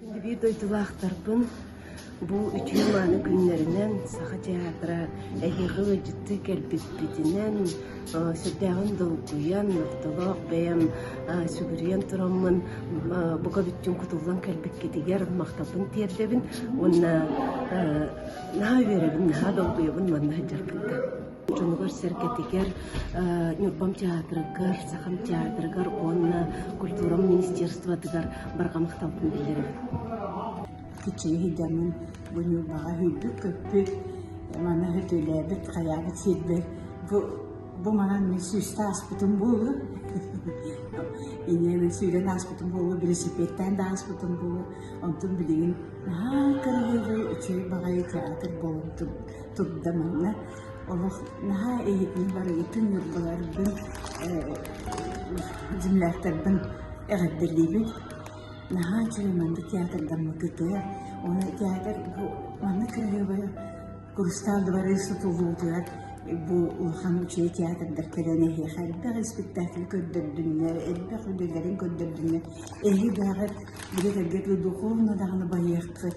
Киһилии дойдулаахтарбын бу үтүө-мааны күннэринэн Саха театра эһиэхэ ыалдьыттыы кэлбиппитинэн сүрдээҕин долгуйан, ортолоох бэйэм сүгүрүйэн тураммын бука бүттүн кутуллан кэлбиккитигэр махталбын тиэрдэбин уонна наһаа үөрэбин, наһаа долгуйабын манна сылдьарбыттан. дьонугар-сэргэтигэр Ньурбам театрыгар, Сахам театрыгар уонна культура министерствотыгар барҕа махталбын биллэрэ. Күччүгэ сылдьаммын бу Ньурбаҕа сүүрбүт көппүт, маны хөтөлөөбүт, хайаабыт сирбэр бу бу манан мен сүүстэ аспытым буолу инен сүүрэн ааспытым буолу велосипедтен да ааспытым буолу онтун билигин наһаа көнөһүлүү үчүгэй баҕайы театр болумтун турда манна олох наһаа эйигин барыгытын ньырбаларбын дьимлээхтэрбин эҕэрдэлиибин наһаа үчүгэй маннык театрдаммыкытыа уонна театр бу манна кыраһыабай курустаалдыбарыы сутулуутугар бу улахан үчүгэй театрдар кэлэн эһиэхэ элбэх испектакль көрдөрдүннэр элбэх үлэлэрин көрдөрдүннэр эһи даҕат били кэлгэтгэ духовно даҕаны байыаххыт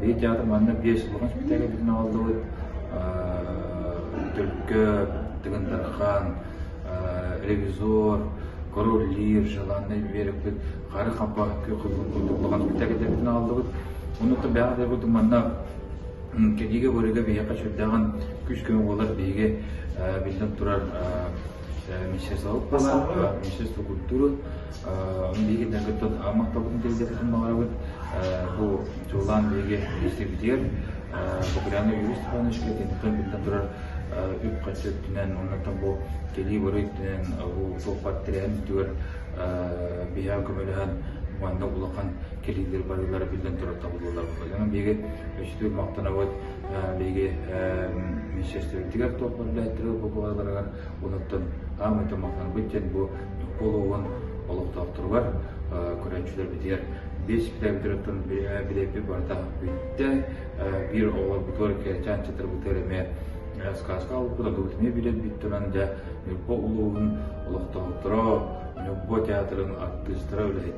Биир театр манна биэс улахан исписэлиис бүтүн аҕаллыбыт. Түлкө, Тыгын Тархан, Ревизор, Король Лир, Желанный Вереппит, Хары Хаппа улахан исписэлиистербитин аҕаллыбыт. Онуттан бэҕэ да бурдук манна кэдиигэ көрүгэ биһиэхэ сүрдээҕин күүс-көмө буолар биһиги биллэн турар министерство культуры Миигинэн кыттан махталбын тиэрдэрбитин баҕарабын. Бу дьуллаан биһиги истибитигэр Бакуляна Юрий Степанович үлэтинтэн үлтэн турар үп-харчы өттүнэн оннуттан бу кэлии-барыы өттүнэн бу суоппар тирээн үтүгэр биһиги көмөлөһөн манна улахан кэлиилэр барыылара биллэн турар табыллылар Дьонун биһиги өчтүр махтанабыт биһиги министерствобытыгар топ үллээттерэ бу Онон саамай тумахтанбыт диэн бу Ньурба олоҕун олохтоохторугар көрөөччүлэрбитигэр биэс бүтээтин билээпи барыта бүттэ. Биир оҕолорбутугар кэлчээн чытырбытыгар эмиэ сказка алыппыт ордубут эмиэ билэрбит туран дьэ Ньурба улууһун олохтоохторо Ньурба театрын артыыстара үлэһит